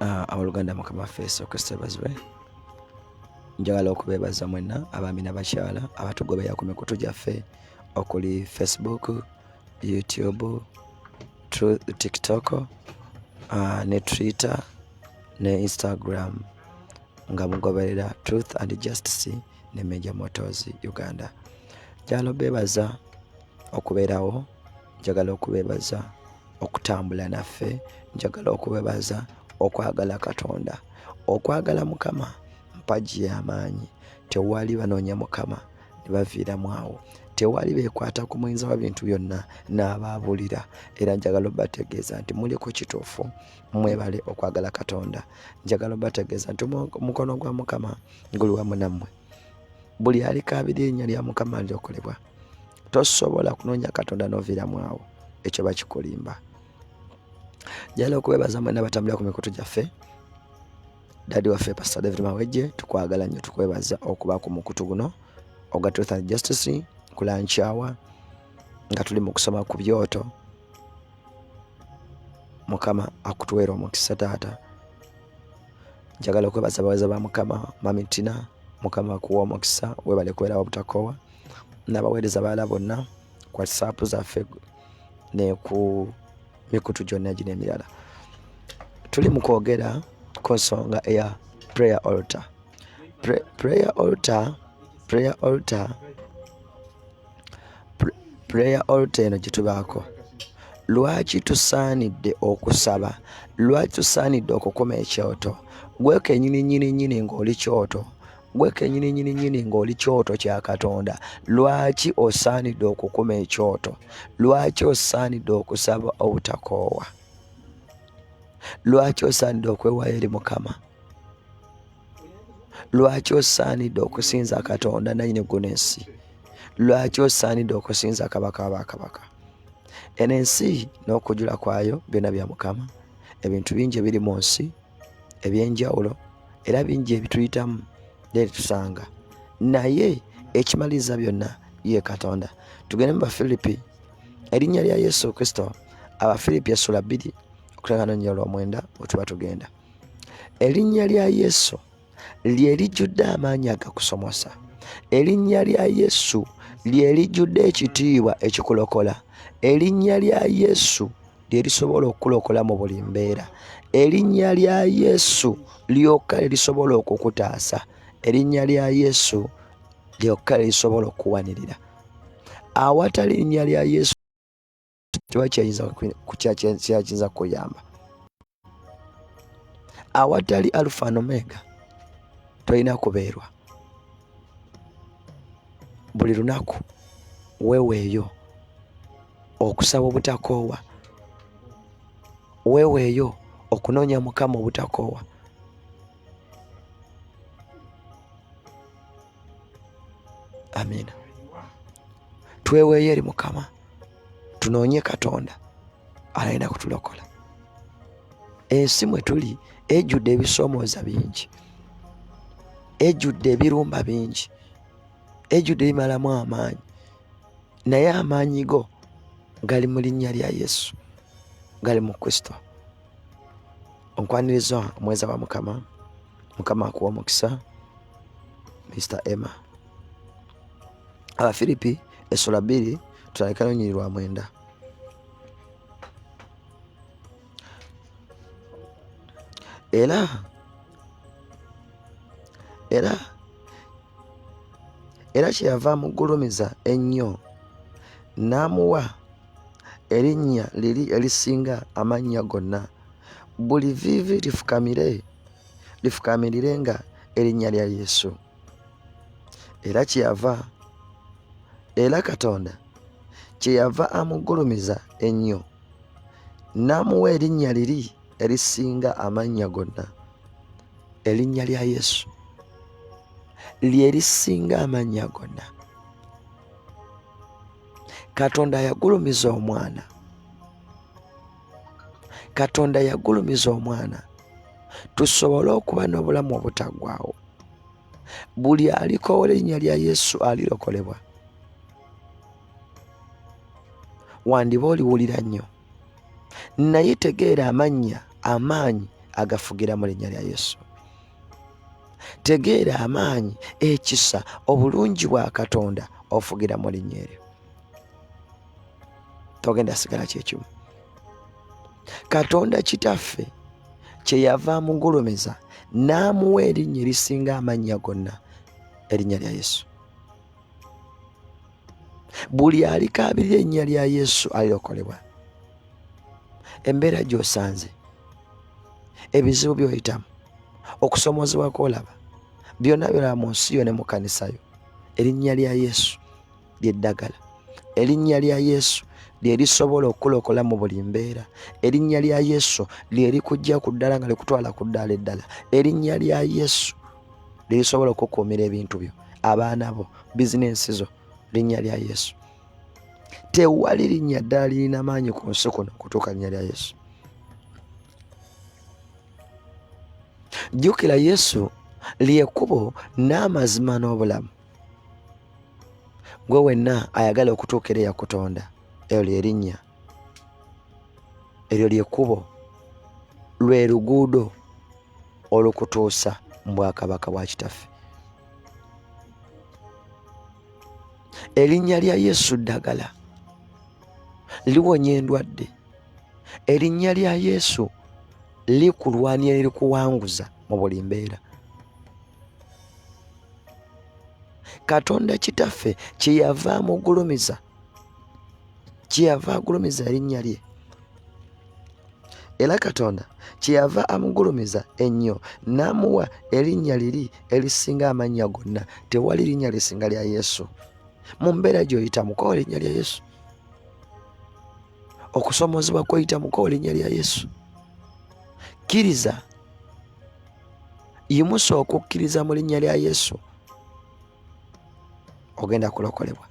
Ah, abaluganda mukama waffe yesu kristo ebazibwe njagala okubeebaza mwenna abaami nabakyala abatugobeera ku mikutu gyaffe okuli facebook youtube tiktok ah, ne twitter ne instagram nga mugoberera truth and justice ne major motors uganda njagala obeebaza okubeerawo njagala okubebaza okutambula naffe njagala okubebaza okwagala katonda okwagala mukama mpagi y'amaanyi tewali banoonya mukama ne baviiramu awo tewali bekwata ku muyinza wa bintu byonna n'abaabulira era njagala obategeeza nti muli ku kituufu mwebale okwagala katonda njagala obategeeza nti omukono gwa mukama guli wamu nammwe buli alikaabira erinnya lya mukama lyokolebwa tosobola kunoonya katonda noviiramu awo ekyo bakikulimba njala okwebaza mwena batambulira ku mikutu gyaffe dadi waffe pastor david mawejje tukwagala nnyo tukwebaza okuba ku mukutu guno oga truth and justice kulankyawa nga tuli mu kusoma ku byoto mukama akutuweera omukisa taata njagala okwebaza abawaza ba mukama mamitina mukama akuwa omukisa webale kubeerawo obutakowa n'abaweereza balala bonna ku whatsapp zaffe ne ku mikutu gyonna gino emirala tuli mu kwogera ku nsonga eya prayer altar Pre prayer altar prayer altar prayer altar eno gye tubaako lwaki tusaanidde okusaba lwaki tusaanidde okukuma ekyoto gwe kenyini nyini nyini ng'oli kyoto gwe kenyini nyini nyini ng'oli kyoto kya katonda lwaki osaanidde okukuma ekyoto lwaki osaanidde okusaba obutakoowa lwaki osaanidde okwewayo eri mukama lwaki osaanidde okusinza katonda nanyini guno ensi lwaki osaanidde okusinza kabaka wabakabaka eno ensi n'okujula kwayo byona bya mukama ebintu bingi ebiri mu nsi eby'enjawulo era bingi ebituyitamu nebitusanga naye ekimaliriza byonna ye katonda tugende mu bafilipi erinnya lya yesu kristo abafilipi essula bbiri okutangana nnya olwomwenda wetuba tugenda erinnya lya yesu lye lijjudde amaanyi agakusomosa erinnya lya yesu lye lijjudde ekitiibwa ekikulokola erinnya lya yesu lye lisobola okukulokola mu buli mbeera erinnya lya yesu lyokka lye lisobola okukutaasa erinnya lya yesu lyokka lye lisobola okuwanirira awatali erinnya lya yesu kiba kyakiyinza kukuyamba awatali alufa nomega tolina kubeerwa buli lunaku weweeyo okusaba obutakoowa weweeyo okunoonya mukama obutakoowa amiina tweweeyo eri mukama tunoonye katonda alina kutulokola ensi mwe tuli ejjudde ebisoomooza bingi ejjudde ebirumba bingi ejjudde ebimalamu amaanyi naye amaanyi go gali mu linnya lya yesu gali mu kristo onkwaniriza omweza wa mukama mukama akuwa omukisa mr emma abafiripi esula bbiri tutandika lunyiri lwa mwenda era era era kyeyava amugulumiza ennyo n'amuwa erinnya liri erisinga amannya gonna buli viivi lifukamire lifukamirire nga erinnya lya yesu era kyeyava era katonda kyeyava amuggulumiza ennyo n'amuwa erinnya liri erisinga amannya gonna erinnya lya yesu lyerisinga amannya gonna katonda yagulumiza omwana katonda yagulumiza omwana tusobole okuba n'obulamu obutaggwawo buli alikowola erinnya lya yesu alirokolebwa wandiba oliwulira nnyo naye tegeera amannya amaanyi agafugira mu linnya lya yesu tegeera amaanyi ekisa obulungi bwa katonda ofugira mu linnya eryo togenda sigala kyekimu katonda kitaffe kyeyava amugulumiza n'amuwa erinnya erisinga amannya gonna erinnya lya yesu buli alikaabirira ennya lya yesu alirokolebwa embeera gy'osanze ebizibu by'oyitamu okusoomoozebwa kw'olaba byonna byolaba mu nsi yo ne mu kanisa yo erinnya lya yesu ly'eddagala erinnya lya yesu lye lisobola okukulokola mu buli mbeera erinnya lya yesu lye likujja ku ddala nga likutwala ku ddaala eddala erinnya lya yesu lirisobola okukuumira ebintu byo abaana bo bizinensi zo linnya lya yesu tewali linnya ddala lirina maanyi ku nsi kuno okutuuka linnya lya yesu jjukira yesu lyekubo n'amazima n'obulamu gwe wenna ayagala okutuukira eyakutonda eyo lyerinnya eryo lyekkubo lwe luguudo olukutuusa mu bwakabaka bwa kitaffe erinnya lya yesu ddagala liwonya endwadde erinnya lya yesu likulwanira erikuwanguza mu buli mbeera katonda kitaffe kyeyava amugulumiza kyeyava agulumiza erinnya lye era katonda kyeyava amugulumiza ennyo n'amuwa erinnya liri erisinga amannya gonna tewali linnya lisinga lya yesu mu mbeera gy'oyitamu kowa erinnya lya yesu okusoomoozebwa kwoyitamu kowa erinnya lya yesu kkiriza yimusa okukkiriza mu linnya lya yesu ogenda kulokolebwa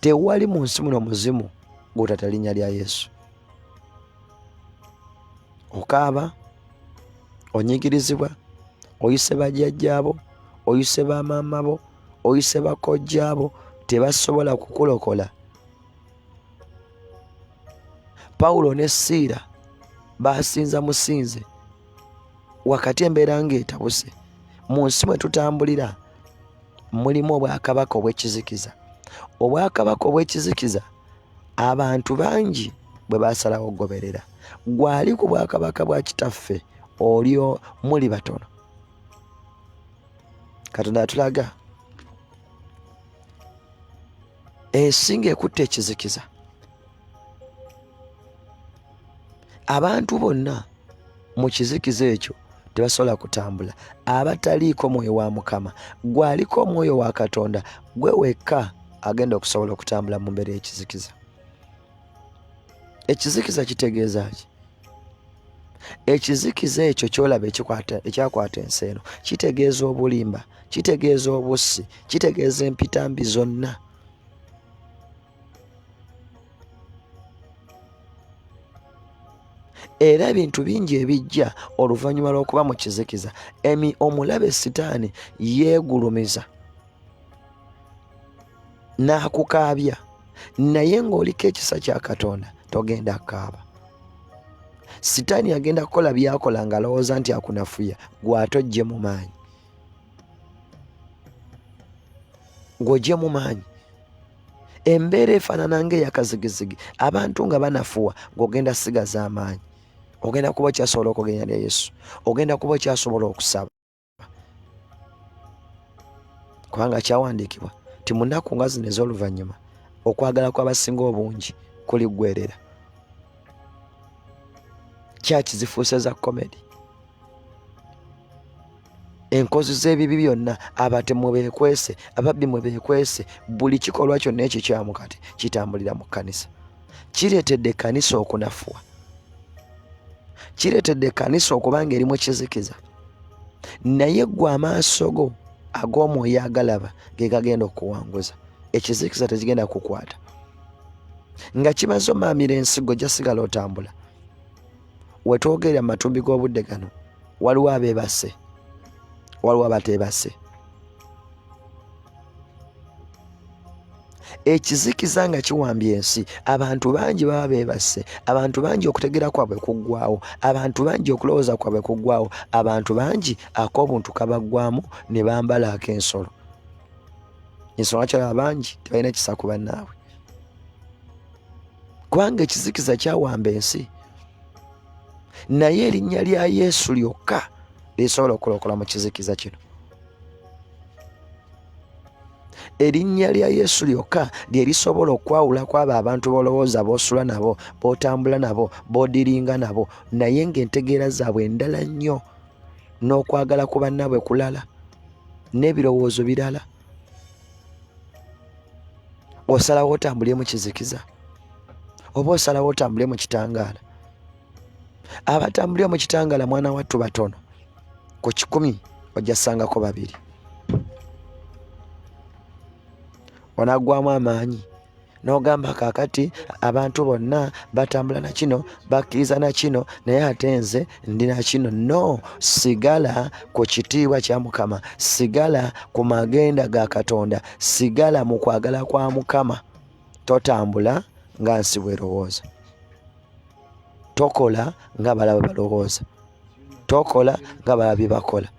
tewali mu nsi muno muzimu gwotata linnya lya yesu okaaba onyigirizibwa oyise bajjajjaabo oyise bamaama bo oyise bakojjaabo tebasobola kukulokola pawulo ne siira basinza musinze wakati embeera ng'etabuse mu nsi mwe tutambulira mulimu obwakabaka obw'ekizikiza obwakabaka obw'ekizikiza abantu bangi bwe basalawo okugoberera gwali ku bwakabaka bwa kitaffe olyo muli batono katonda atulaga ensinga ekutte ekizikiza abantu bonna mu kizikiza ekyo tebasobola kutambula abataliiko mwoyo wa mukama gwaliko omwoyo wa katonda gwe wekka agenda okusobola okutambula mu mbeera ekizikiza ekizikiza kitegeeza ki ekizikiza ekyo kyolaba ekyakwata ensi eno kitegeeza obulimba kitegeeza obussi kitegeeza empitambi zonna era ebintu bingi ebijja oluvannyuma lw'okuba mu kizikiza emi omulabe sitaani yeegulumiza n'akukaabya naye ng'oliko ekisa kya katonda togenda kukaaba sitaani agenda kukola byakola ng'alowooza nti akunafuya gwatojje mu maanyi gwojje mu maanyi embeera efaanana ng'eyakazigizigi abantu nga banafuwa ng'ogenda sigaza amaanyi ogenda kuba okyasobola okugenda ne yesu ogenda kuba okyasobola okusaba kubanga kyawandiikibwa ti munaku nga zino ez'oluvannyuma okwagala kw'abasinga obungi kuliggwerera kyaki zifuuse za komedi enkozi z'ebibi byonna abatemu beekwese ababbi mwe beekwese buli kikolwa kyonna ekikyamu kati kitambulira mu kkanisa kireetedde ekkanisa okunafuwa kireetedde ekkanisa okuba nga erimu kizikiza naye gwe amaaso go ag'omwoyo agalaba ge gagenda okuwanguza ekizikiza tekigenda kukwata nga kimaze omaamira ensigo jasigala otambula wetwogerera mu matumbi g'obudde gano waliwo abeebase waliwo abateebase ekizikiza nga kiwambye ensi abantu bangi baba beebase abantu bangi okutegera kwabwe kuggwawo abantu bangi okulowooza kwabwe kuggwawo abantu bangi ak'obuntu kabaggwamu ne bambala ak'ensolo ensonga kyalaba bangi tebalina kisa ku bannaabwe kubanga ekizikiza kyawamba ensi naye erinnya lya yesu lyokka lisobola okulokola mu kizikiza kino erinnya lya yesu lyokka lye lisobola okwawula kwabo abantu bolowooza bosula nabo botambula nabo bodiringa nabo naye ngaentegeera zaabwe endala nnyo n'okwagala ku bannaabwe kulala n'ebirowoozo birala na osalawo otambule mu kizikiza oba osalawo otambule mu kitangaala abatambulira mu kitangaala mwana wattu batono ku kikumi ojja sangako babiri onagwamu amaanyi n'ogamba kaakati abantu bonna batambula na kino bakkiriza na kino naye ate nze ndi na kino no sigala ku kitiibwa kya mukama sigala ku magenda ga katonda sigala mu kwagala kwa mukama totambula nga nsi bwerowooza tokola nga balaba balowooza tokola nga balaba bye bakola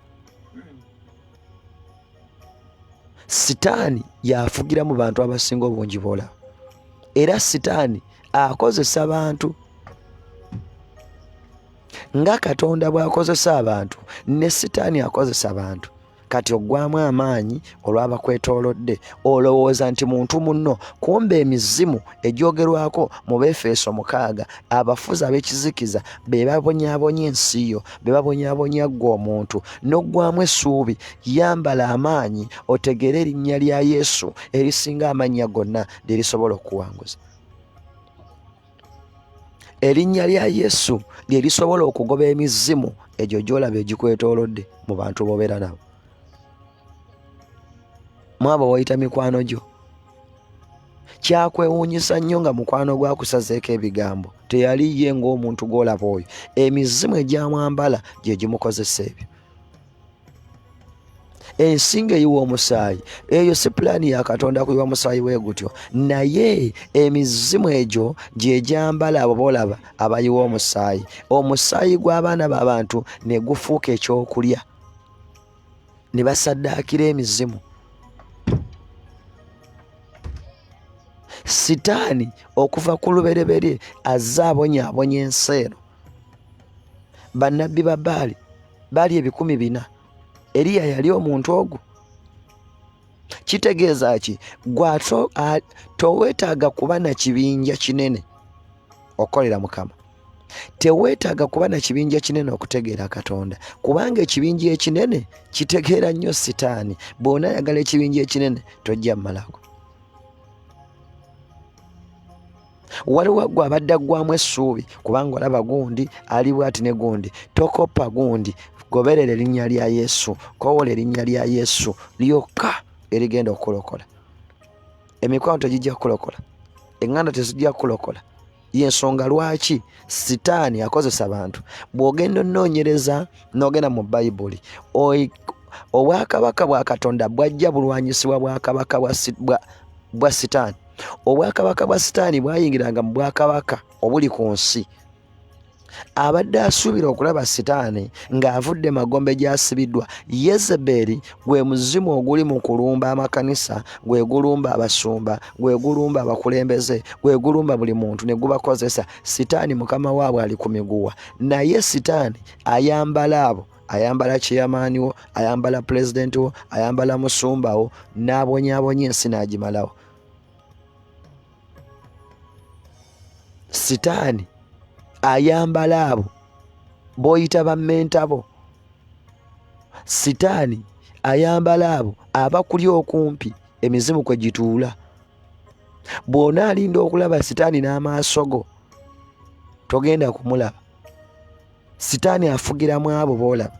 sitaani yafugira mu bantu abasinga obungi bola era sitaani akozesa bantu nga katonda bw'akozesa abantu ne sitaani akozesa bantu kati oggwamu amaanyi olw'abakwetoolodde olowooza nti muntu munno kumba emizimu egyogerwako mu befeeso mukaaga abafuzi ab'ekizikiza be babonyabonya ensi yo be babonyabonya ggwe omuntu n'oggwamu essuubi yambala amaanyi otegeere erinnya lya yesu erisinga amannya gonna lye lisobola okuwanguza erinnya lya yesu lye lisobola okugoba emizimu egyo gyolaba egikwetoolodde mu bantu bobeera nabo mwabo wayita mikwano gyo kyakwewuunyisa nnyo nga mukwano gwakusazeeko ebigambo teyali ye ng'omuntu gw'olaba oyo emizimu egyamwambala gye gimukozesa ebyo ensinga eyiwa omusaayi eyo si pulaani ya katonda kuyiwa musaayi we gutyo naye emizimu egyo gyegyambala abo boolaba abayiwa omusaayi omusaayi gw'abaana b'abantu ne gufuuka ekyokulya ne basaddaakira emizimu sitaani okuva ku lubereberye azze abonyaabonya ensi eno bannabbi ba baali baali ebikumi bina eriya yali omuntu ogwo kitegeeza ki gwato towetaaga kuba na kibinja kinene okolera mukama teweetaaga kuba na kibinja kinene okutegeera katonda kubanga ekibinja ekinene kitegeera nnyo sitaani bwona ayagala ekibinja ekinene tojja mumalako waliwo gwe abadde aggwamu essuubi kubanga olaba gundi ali bwati ne gundi tokoppa gundi goberera erinnya lya yesu kowola erinnya lya yesu lyokka erigenda okukulokola emikwano tegijja kukulokola eŋŋanda tezijja kukulokola yensonga lwaki sitaani akozesa bantu bw'ogenda onoonyereza n'ogenda mu bayibuli obwakabaka bwa katonda bwajja bulwanyisibwa bwakabaka bwa sitaani obwakabaka bwa sitaani bwayingiranga mu bwakabaka obuli ku nsi abadde asuubira okulaba sitaani ng'avudde magombe gy'asibiddwa yezebeeri gwe muzimu oguli mu kulumba amakanisa gwe gulumba abasumba gwe gulumba abakulembeze gwe gulumba buli muntu ne gubakozesa sitaani mukama waabwe ali ku miguwa naye sitaani ayambala abo ayambala kiyamaani wo ayambala pulezidenti wo ayambala musumba wo n'abonyabonya ensi n'agimalawo sitaani ayambala abo b'oyita bammentabo sitaani ayambala abo abakuli okumpi emizimu kwe gituula bw'ona alinda okulaba sitaani n'amaaso go togenda kumulaba sitaani afugiramu abo boolaba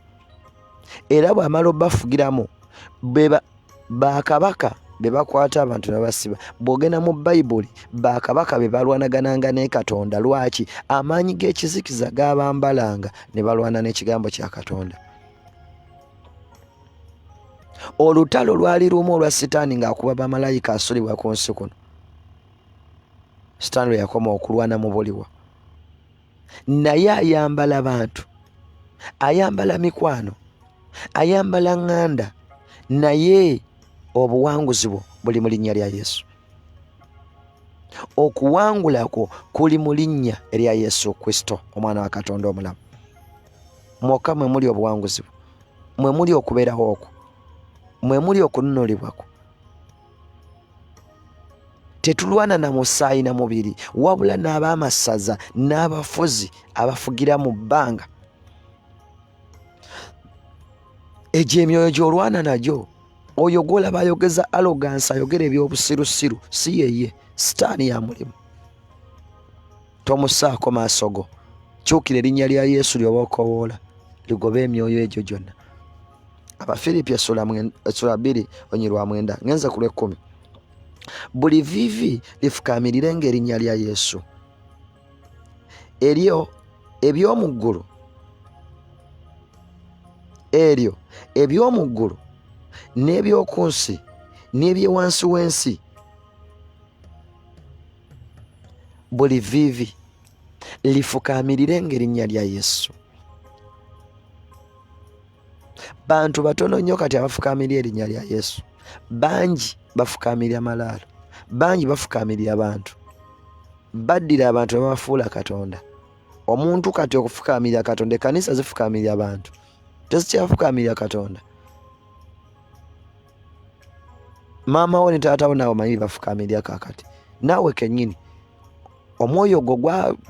era bw'amala obafugiramu bakabaka be bakwata abantu nebasiba bw'ogenda mu bayibuli bakabaka be balwanagananga ne katonda lwaki amaanyi g'ekizikiza gaabambalanga ne balwana n'ekigambo kya katonda olutalo lwali lumu olwa sitaani ng'akuba bamalayika asulibwa ku nsi kuno sitaani lwe yakoma okulwana mu buliwa naye ayambala bantu ayambala mikwano ayambala ŋŋanda naye obuwanguzi bwo buli mu linnya lya yesu okuwangula kwo kuli mu linnya erya yesu kristo omwana wa katonda omulamu mwokka mwe muli obuwanguzi bwo mwe muli okubeerawo okwo mwe muli okununulibwa kwo tetulwana na musaayi na mubiri wabula n'ab'amasaza n'abafuzi abafugira mu bbanga egyo emyoyo gy'olwana nagyo oyo gwolaba ayogeza alogansi ayogera eby'obusirusiru si yeye sitaani ya mulimu tomusaako maaso go kyukira erinnya lya yesu lyoba okowoola ligoba emyoyo egyo gyonna abafiripi essula bbiri onyi lwa mwenda ngenze ku lwekkumi buli vivi lifukamirire ngaerinnya lya yesu eryo eby'omu ggulu eryo eby'omu ggulu n'eby'oku nsi n'ebyewansi w'ensi buli viivi lifukaamirire ng'erinnya lya yesu bantu batono nnyo kati abafukaamirira erinnya lya yesu bangi bafukaamirira malaalo bangi bafukaamirira bantu baddira abantu ne babafuula katonda omuntu kati okufukaamirira katonda ekanisa zifukaamirira bantu tezikyafukaamira katonda maama wo ne taata wo naawe omanyi bafukaamirira kaakati naawe kennyini omwoyo ogwo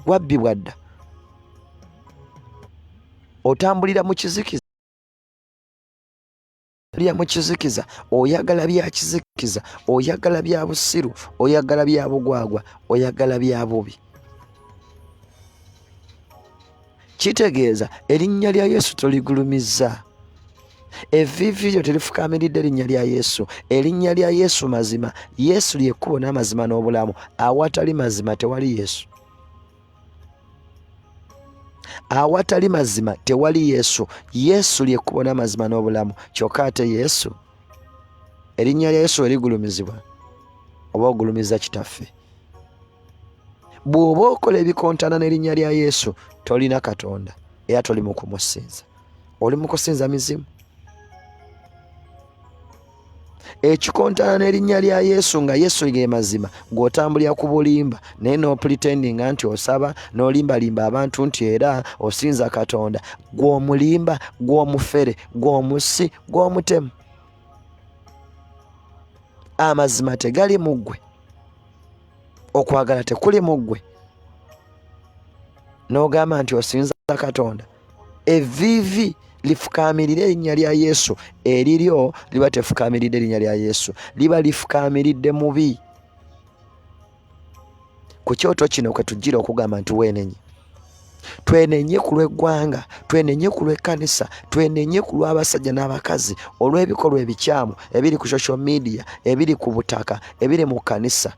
gwabbibwa dda otambulira mu kizikiza lya mu kizikiza oyagala bya kizikiza oyagala bya busiru oyagala bya bugwagwa oyagala bya bubi kitegeeza erinnya lya yesu toligulumizza evivi lyo terifukamiridde erinnya lya yesu erinnya lya yesu mazima yesu lyekkubo n'amazima n'obulamu awatali mazima tewali yesu awatali mazima tewali yesu yesu lyekkubo n'amazima n'obulamu kyokka ate yesu erinnya lya yesu erigulumizibwa oba ogulumiza kitaffe bw'oba okola ebikontana n'erinnya lya yesu tolina katonda era toli mu kumusinza oli mu kusinza mizimu ekikontana n'erinnya lya yesu nga yesu ge mazima gw'otambulira ku bulimba naye n'opulitendinga nti osaba n'olimbalimba abantu nti era osinza katonda gw'omulimba gw'omufere gw'omusi gw'omutemu amazima tegali mu ggwe okwagala tekuli mu ggwe n'ogamba nti osinza katonda eviivi lifukamiridde erinnya lya yesu eriryo liba tefukamiridde erinnya lya yesu liba lifukamiridde mubi ku kyoto kino kwe tujjira okugamba nti weenenye twenenye ku lw'eggwanga twenenye ku lw'ekkanisa twenenye ku lw'abasajja n'abakazi olw'ebikolwa ebikyamu ebiri ku social media ebiri ku butaka ebiri mu kkanisa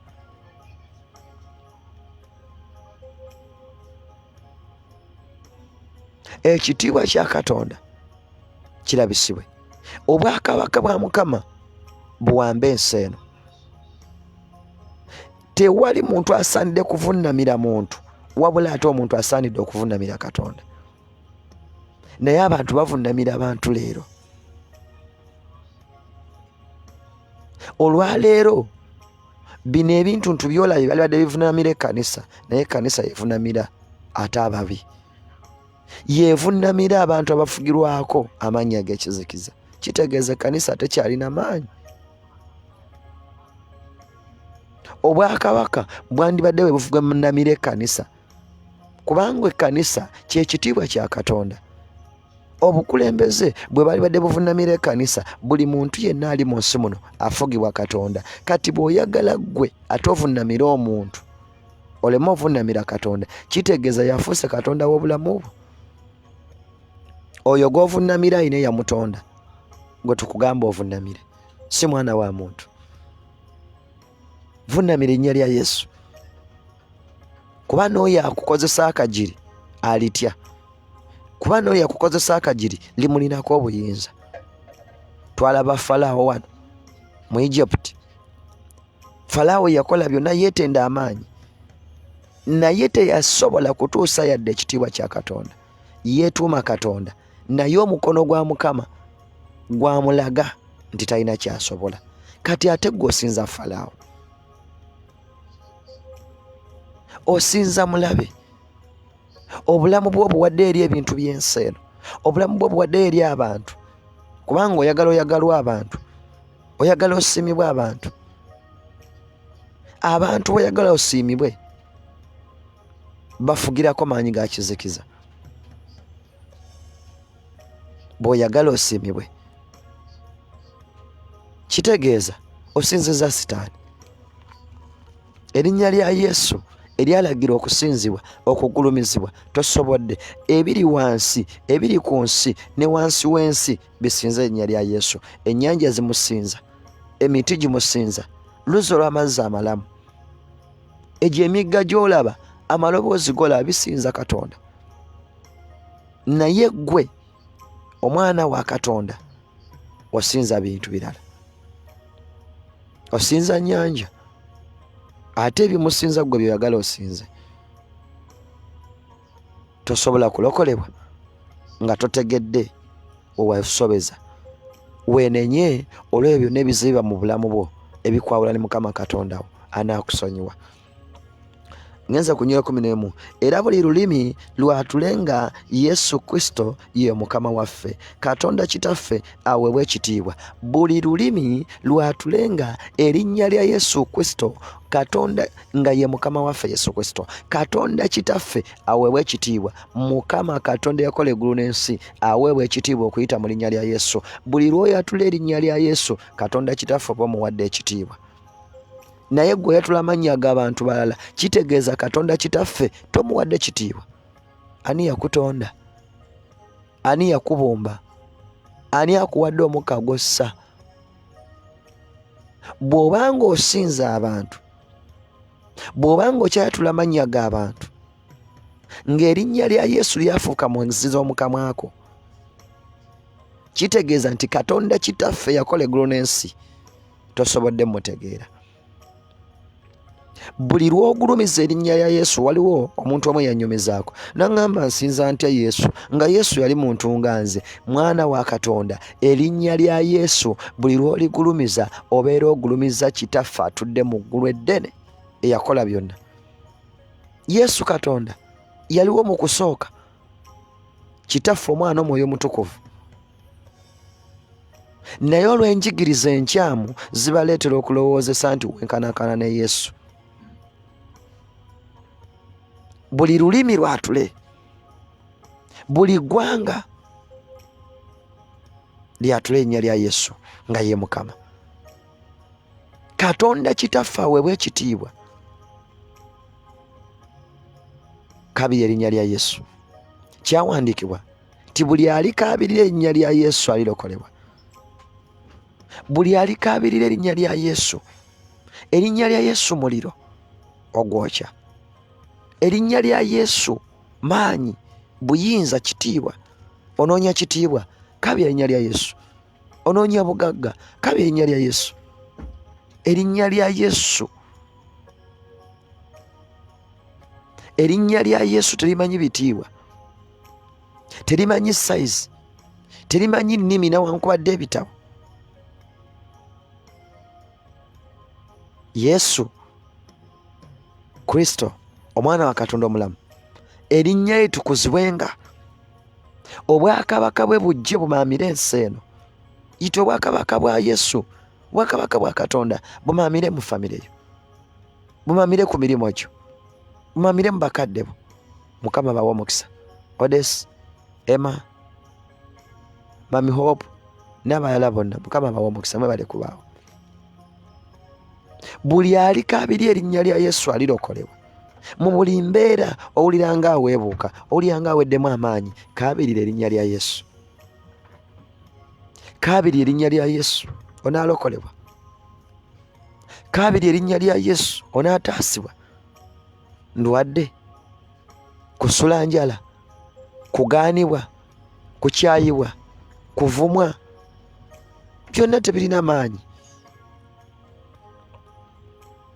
ekitiibwa kya katonda kirabisibwe obwakabaka bwa mukama buwambe ensi eno tewali muntu asaanidde kuvunnamira muntu wabula ate omuntu asaanidde okuvunnamira katonda naye abantu bavunnamira abantu leero olwaleero bino ebintu ntu byolabye byalibadde bivunamira ekkanisa naye ekkanisa yevunamira ate ababi yevunamira abantu abafugirwako amaanyi ag'ekizikiza kitegeeza ekkanisa tekyalina maanyi obwakabaka bwandibadde bwe bufuga munamira ekkanisa kubanga ekkanisa kyekitiibwa kya katonda obukulembeze bwe balibadde buvunamira ekkanisa buli muntu yenna ali mu nsi muno afugibwa katonda kati bw'oyagala ggwe ate ovunamire omuntu oleme ovunamira katonda kitegeeza yafuuse katonda w'obulamu bwo oyo gw'ovunamira ayina eyamutonda gwe tukugamba ovunamire si mwana wa muntu vunamira ennya lya yesu kuba n'oyo akukozesa akagiri alitya kuba n'oyo akukozesa akagiri limulinako obuyinza twalaba falaawo wano mu egypt falaawo yakola byonna yeetenda amaanyi naye teyasobola kutuusa yadde ekitiibwa kya katonda yeetuuma katonda naye omukono gwa mukama gwamulaga nti talina kyasobola kati ate gwe osinza falaawo osinza mulabe obulamu bwo obuwadde eri ebintu by'ensi eno obulamu bwo obuwadde eri abantu kubanga oyagala oyagalwa abantu oyagala osiimibwe abantu abantu boyagala osiimibwe bafugirako maanyi ga kizikiza bw'oyagala osiimibwe kitegeeza osinziza sitaani erinnya lya yesu eryalagirwa okusinzibwa okugulumizibwa tosobodde ebiri wansi ebiri ku nsi ne wansi w'ensi bisinza erinnya lya yesu ennyanja zimusinza emiti gimusinza luzzi olw'amazzi amalamu egyo emigga gy'olaba amaloboozi golaba bisinza katonda naye gwe omwana wa katonda osinza bintu birala osinza nyanja ate ebimusinza gwe byoyagala osinze tosobola kulokolebwa nga totegedde wewasobeza wenenye olwebyo byonna ebiziba mu bulamu bwo ebikwawula ne mukama katonda wo anaakusonyiwa ngenze ku nyo ekumi n'emu era buli lulimi lwatule nga yesu kristo ye mukama waffe katonda kitaffe aweebwa ekitiibwa buli lulimi lwatule nga erinnya lya yesu kristo katonda nga ye mukama waffe yesu kristo katonda kitaffe aweebwa ekitiibwa mukama katonda yakola eggulu n'ensi aweebwa ekitiibwa okuyita mu linnya lya yesu buli lwoyatula erinnya lya yesu katonda kitaffe oba omuwadde ekitiibwa naye gwe oyatula amannya g'abantu balala kitegeeza katonda kitaffe tomuwadde kitiibwa ani yakutonda ani yakubumba ani akuwadde omukka gwossa bw'oba ng'osinza abantu bw'oba ng'okyayatula amannya g'abantu ng'erinnya lya yesu lyafuuka mu nzizi z'omu kamwako kitegeeza nti katonda kitaffe yakola eggulu n'ensi tosobodde mutegeera buli lwogulumiza erinnya ya yesu waliwo omuntu omu eyanyumizaako naŋŋamba nsinza ntya yesu nga yesu yali muntu nga nze mwana wa katonda erinnya lya yesu buli lwoligulumiza obeera ogulumiza kitaffe atudde mu ggulu eddene eyakola byonna yesu katonda yaliwo mu kusooka kitaffe omwana omwoyo omutukuvu naye olw'enjigiriza enkyamu zibaleetera okulowoozesa nti wenkanankana ne yesu buli lulimi lwatule buli ggwanga lyatule erinnya lya yesu nga ye mukama katonda kitaffe aweebwa ekitiibwa kabiri erinnya lya yesu kyawandiikibwa nti buli alikaabirira erinnya lya yesu alirokolebwa buli alikaabirira erinnya lya yesu erinnya lya yesu muliro ogwokya erinnya lya yesu maanyi buyinza kitiibwa onoonya kitiibwa kabiri erinnya lya yesu onoonya bugagga kaba erinnya lya yesu erinnya lya yesu erinnya lya yesu terimanyi bitiibwa terimanyi sayizi terimanyi nnimi nawankubadde ebitabo yesu kristo omwana wa katonda omulamu erinnya ye tukuzibwenga obwakabaka bwe bujje bumaamire ensi eno yita obwakabaka bwa yesu obwakabaka bwa katonda bumaamire mu famire yo bumaamire ku mirimu gyo bumaamire mu bakadde bo mukama bawa omukisa odes emma mami hope n'abalala bonna mukama bawa omukisa mwe bale kubaawo buli aliko abiri erinnya lya yesu alirokolebwa mu buli mbeera owulira nga aweebuuka owulira nga aweddemu amaanyi kaabirira erinnya lya yesu kaabiri erinnya lya yesu onaalokolebwa kaabiri erinnya lya yesu onaataasibwa ndwadde kusula njala kugaanibwa kukyayibwa kuvumwa byonna tebirina maanyi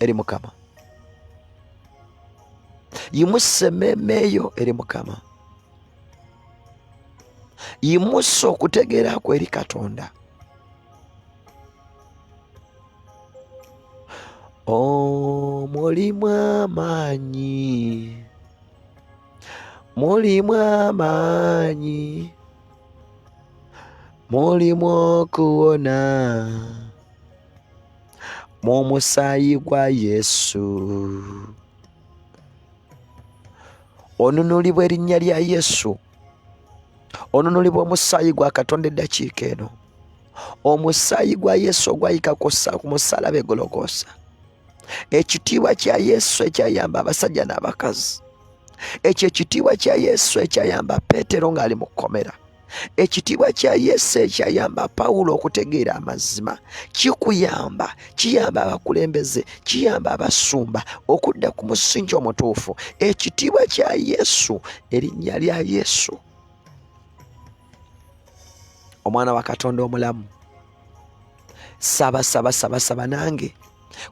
eri mukama yimusa emmeeme yo eri mukama yimusa okutegeera kwe eri katonda omulimu amaanyi mulimu amaanyi mulimu okuwona mu musaayi gwa yesu onunulibwa erinnya lya yesu onunulibwa omusaayi gwa katonda eddakiika eno omusaayi gwa yesu ogwayika ku musalaba egolokosa ekitiibwa kya yesu ekyayamba abasajja n'abakazi ekyo ekitiibwa kya yesu ekyayamba peetero ng'ali mu kkomera Ekitiibwa kya Yesu ekyayamba Pawulo okutegeera amazima kikuyamba, kiyamba abakulembeze, kiyamba abasumba okudda ku musingi omutuufu. Ekitiibwa kya Yesu, erinnya lya Yesu, omwana wa Katonda omulamu. Saba, saba, saba, saba nange.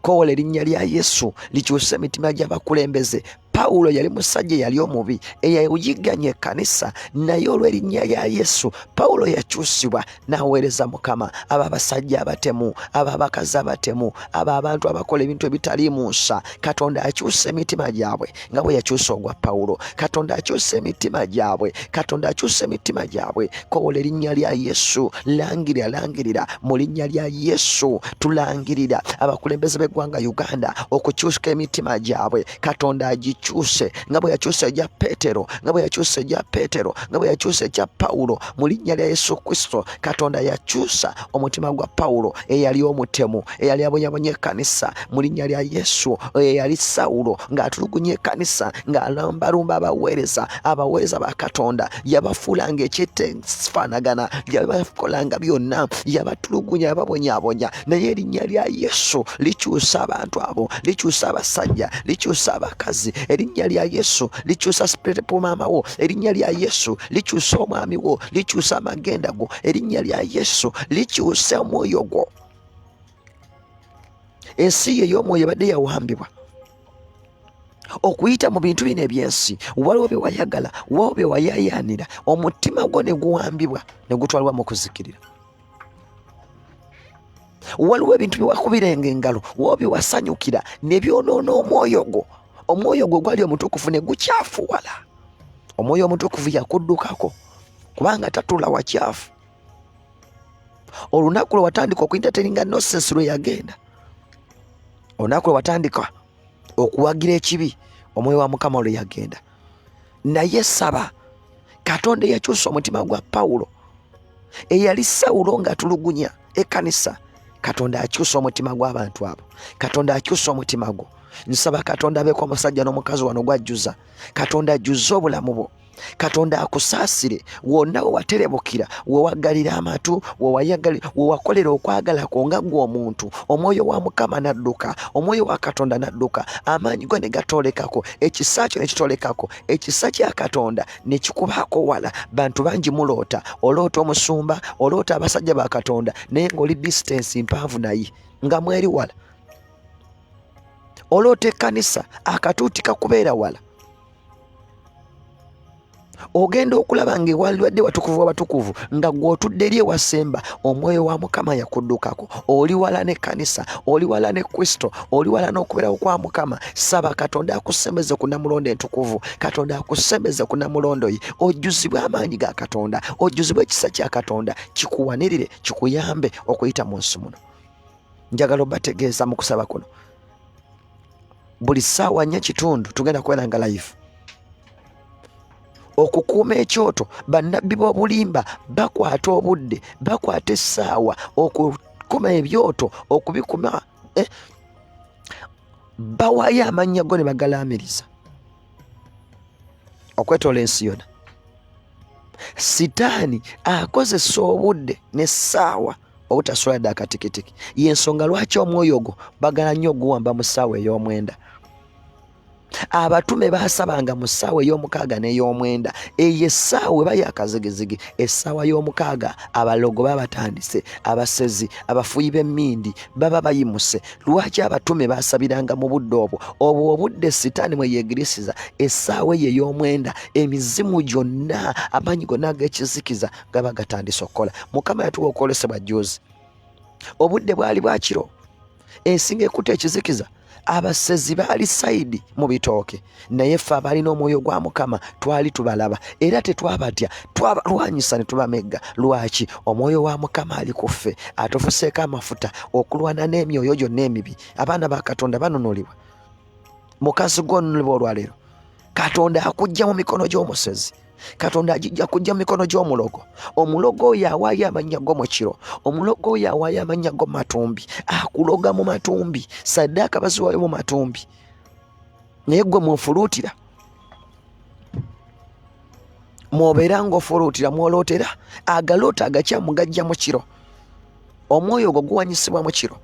kowola erinnya lya yesu likyusa emitima gy'abakulembeze pawulo yali musajja eyali omubi eyayigganya ekkanisa naye olw'erinnya lya yesu pawulo yakyusibwa n'aweereza mukama abo abasajja abatemu abo abakazi abatemu abo abantu abakola ebintu ebitaliimu nsa katonda akyusa emitima gyabwe nga bwe yakyusa ogwa pawulo katonda akyusa emitima gyabwe katonda akyusa emitima gyabwe kowola erinnya lya yesu langirira langirira mu linnya lya yesu tulangirira abakulembeze b'eggwanga uganda okukyuska emitima gyabwe katonda agikyuse nga bwe yakyusa egya petero nga bwe yakyusa egya petero nga bwe yakyusa ekya pawulo mu linnya lya yesu kristo katonda yakyusa omutima gwa pawulo eyali omutemu eyali abonyabonye ekkanisa mu linnya lya yesu oyo eyali sawulo ng'atulugunya ekkanisa ng'alumbalumba abaweereza abaweereza ba katonda yabafuula ng'ekyetefaanagana yabakolanga byonna yabatulugunya yababonyabonya naye erinnya lya yesu likyusa abantu abo likyusa abasajja likyusa abakazi erinnya lya yesu likyusa sipiriti pumaama wo erinnya lya yesu likyusa omwami wo likyusa amagenda go erinnya lya yesu likyusa omwoyo gwo ensi yo ey'omwoyo ebadde yawambibwa okuyita mu bintu bino ebyensi waliwo bye wayagala waliwo bye wayayaanira omutima gwo ne guwambibwa ne gutwalibwa mu kuzikirira waliwo ebintu byewakubirenga engalo woobi wasanyukira ne byonoona omwoyo gwo omwoyo gwo gwali omutukuvu ne gukyafuwala omwoyo omutukuvu yakuddukako kubanga tatula wakyafu olunaku lwe watandika okuintateringa nosensi lwe yagenda olunaku lwe watandika okuwagira ekibi omwoyo wa mukama olwe yagenda naye saba katonda eyakyusa omutima gwa pawulo eyali sawulo ng'atulugunya ekkanisa katonda akyusa omutima gw'abantu abo katonda akyusa omutima gwo nsaba katonda abeeko omusajja n'omukazi wano gwajjuza katonda ajjuzza obulamu bwo katonda akusaasire wonna we waterebukira we waggalira amatu we wakolera okwagala kwo nga ggwe omuntu omwoyo wa mukama n'adduka omwoyo wa katonda n'adduka amaanyi go ne gatoolekako ekisa kyo ne kitoolekako ekisa kya katonda ne kikubaako wala bantu bangi muloota oloota omusumba oloota abasajja ba katonda naye ng'oli disitansi mpanvu naye nga mweri wala oloota ekkanisa akatuuti kakubeera wala ogenda okulaba nga ewalibadde watukuvu wabatukuvu nga gw'otudde eri ewasemba omwoyo wa mukama yakuddukako oli wala n'ekkanisa oli wala ne kristo oli wala n'okubeerawo kwa mukama saba katonda akusembeze ku namulondo entukuvu katonda akusembeze ku namulondo ye ojjuzibwe amaanyi ga katonda ojjuzibwe ekisa kya katonda kikuwanirire kikuyambe okuyita mu nsi muno njagala obategeeza mu kusaba kuno buli ssaawa nnya kitundu tugenda kubeera nga live okukuuma ekyoto bannabbi b'obulimba bakwata obudde bakwata essaawa okukuma ebyoto okubikuma eh, bawaayo amannya go ne bagalaamiriza okwetoola ensi yona sitaani akozesa obudde n'essaawa obutasula yadde akatikitiki yensonga lwaki omwoyo ogwo bagala nnyo oguwamba mu ssaawa ey'omwenda abatume baasabanga mu ssaawa ey'omukaaga n'ey'omwenda eyo essaawa eba yakazigizigi essaawa y'omukaaga abalogo baba batandise abasezi abafuyi b'emmindi baba bayimuse lwaki abatume baasabiranga mu budde obwo obwo obudde sitaani mwe yeegirisiza essaawa eyo ey'omwenda emizimu gyonna amaanyi gonna ag'ekizikiza gaba gatandise okukola mukama yatuwa okwolesebwa juzi obudde bwali bwakiro ensinga ekuta ekizikiza abasezi baali sayidi mu bitooke naye ffe abaalina omwoyo gwa mukama twali tubalaba era tetwabatya twabalwanyisa ne tubamegga lwaki omwoyo wa mukama ali ku ffe atufuseeko amafuta okulwana n'emyoyo gyonna emibi abaana ba katonda banunulibwa mukazi gwonunulibwa olwaleero katonda akujja mu mikono gy'omusezi katonda ajija kujja mumikono gy'omulogo omulogo oyo awaayo amannya go mu kiro omulogo oyo awaayo amannya go mu matumbi akuloga mu matumbi saddaaka baziwayo mu matumbi naye gwe mufuluutira mwobeera ng'ofuluutira mwolootera agaloota agakyamu gajja mu kiro omwoyo ogwo guwanyisibwa mu kiro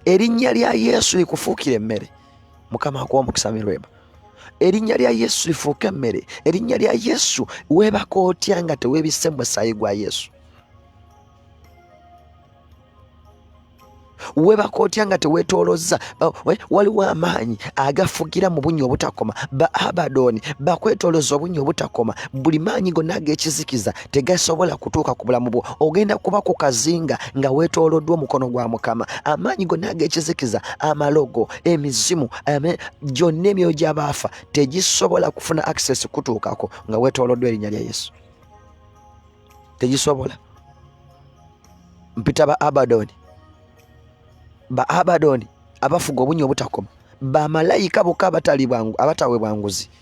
erinnya lya yesu likufuukira emmere mukama akuwa omukisa mirweba erinnya lya yesu lifuuka emmere erinnya lya yesu weebaka otya nga teweebisse mu musaayi gwa yesu weebaka otya nga teweetoolozza waliwo amaanyi agafugira mu bunnya obutakoma ba abadoni bakwetoolozza obunnya obutakoma buli maanyi gonna ag'ekizikiza tegasobola kutuuka ku bulamu bwo ogenda kuba ku kazinga nga weetooloddwa omukono gwa mukama amaanyi gonna ag'ekizikiza amalogo emizimu gyonna emyoyo gy'abaafa tegisobola kufuna access kutuukako nga weetooloddwa erinnya lya yesu tegisobola mpita ba abadoni ba abadoni abafuga obunya obutakoma bamalayika bokka abatali bwangu abatawe bwanguzi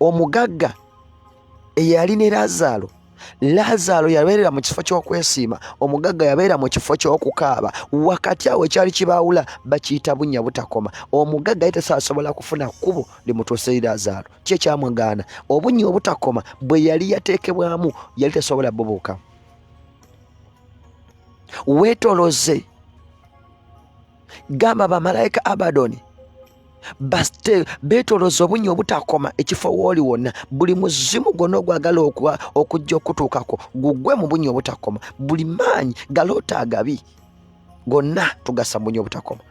omugagga eyali ne laazaalo laazaalo yabeerera mu kifo ky'okwesiima omugagga yabeera mu kifo ky'okukaaba wakati awo ekyali kibaawula bakiyita bunnya butakoma omugagga ye tasaasobola kufuna kkubo limutuusa eri laazaalo ki ekyamwagaana obunnya obutakoma bwe yali yateekebwamu yali tasobola bubuuka weetoloze gamba bamalayika abadoni basite beetoloza obunnya obutakoma ekifo wooli wonna buli muzimu gwonna ogwagala okujja okutuukako gugwe mu bunnya obutakoma buli maanyi galoota agabi gonna tugasa mu bunnya obutakoma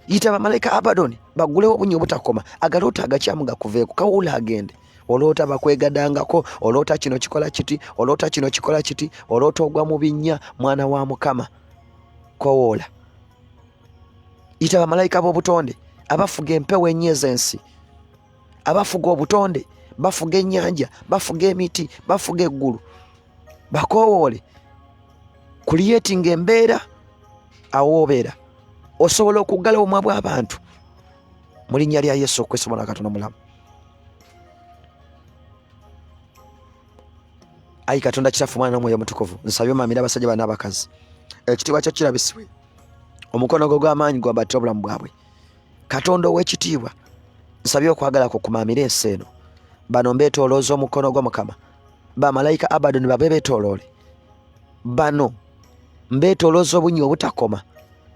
yita bamalayika abadoni bagulewo obunnya obutakoma agaloota agakyamu gakuveeko kawuula agende oloota bakwegadangako oloota kino kikola kiti oloota kino kikola kiti oloota ogwa mu binnya mwana wa mukama kowoola yita bamalayika b'obutonde abafuga empewo enyo ez'ensi abafuga obutonde bafuga ennyanja bafuga emiti bafuga eggulu bakoowoole kuliyetinga embeera awoobeera osobola okuggala obumwa bw'abantu mu linnya lya yesu okwesobola katonda omulamu ayi katonda kitaffe omwana n'omwoyo omutukuvu nsabye omamira abasajja bana abakazi ekitiibwa kyo kirabisibwe omukono gwo gw'amaanyi gwambattira obulamu bwabwe katonda ow'ekitiibwa nsabye okwagala kwo kumaamira ensi eno bano mbeetoolooza omukono gwo mukama bamalayika abadoni babe beetooloole bano mbeetoolooza obunyi obutakoma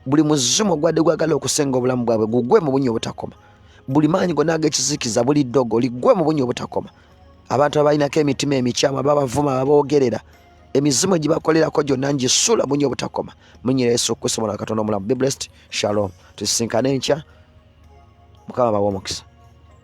buli muzimu ogwadde gwagala okusenga obulamu bwabwe gugwe mu bunyi obutakoma buli maanyi gonna ag'ekizikiza buli ddogo ligwe mu bunyi obutakoma abantu abalinako emitima emikyamu ababavuma ababoogerera aba emizimu egibakolerako gyonna ngisula munyo obutakoma munyira yesu kristo mwana katonda omulamu be blessed shalom tusisinkane enkya mukama bawa omukisa